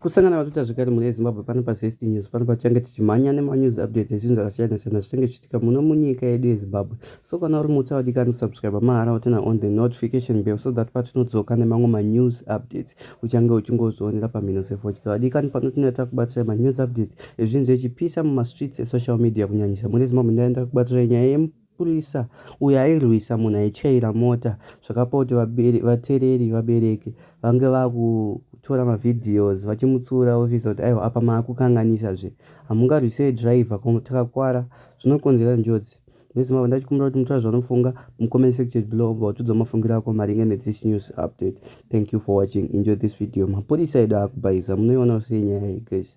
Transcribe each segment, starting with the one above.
Kusangana vatuta zvekare mune Zimbabwe pano pa Zest News pano pachange tichimhanya nema news updates ezvinhu zvakasiyana siyana zvichange zvichiitika muno munyika yedu yeZimbabwe. So kana uri mutsva wadikani kusubscribe mahara wotena on the notification bell so that patinodzoka nemamwe ma news updates uchange uchingozvionera pamhino sefodya. Wadikani pano tinenge takubatirai ma news updates ezvinhu zvechipisa muma streets e social media kunyanyisa mune Zimbabwe ndaenda kubatirai nyaya yemu Mapurisa uyo airwisa munhu aityaira mota zvakapa kuti vatereri vabereki vange vakutora mavideos vachimutsiura ofisa kuti aiwa apa maakukanganisa zve hamungarwisei driver ko takakwara zvinokonzera njodzi nezimavo ndachikumbira kuti mutora zvanofunga mucomment section below obva utidzwa mafungiro ako maringe nethis news update thank you for watching enjoy this video mapurisa edu akubhaiza munoiona sei nyaya iyi guys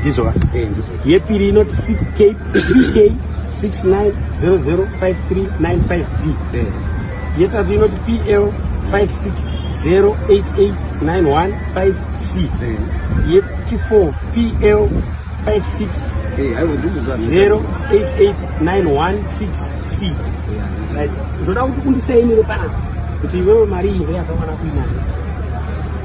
ndizvo yepiri inoti ck 69005395b yetatu inoti pl 56088915c yechifo pl 56088916c ndoda kuti undisainire panapa kuti iwewe mari iyi ndeyakawana kuinayo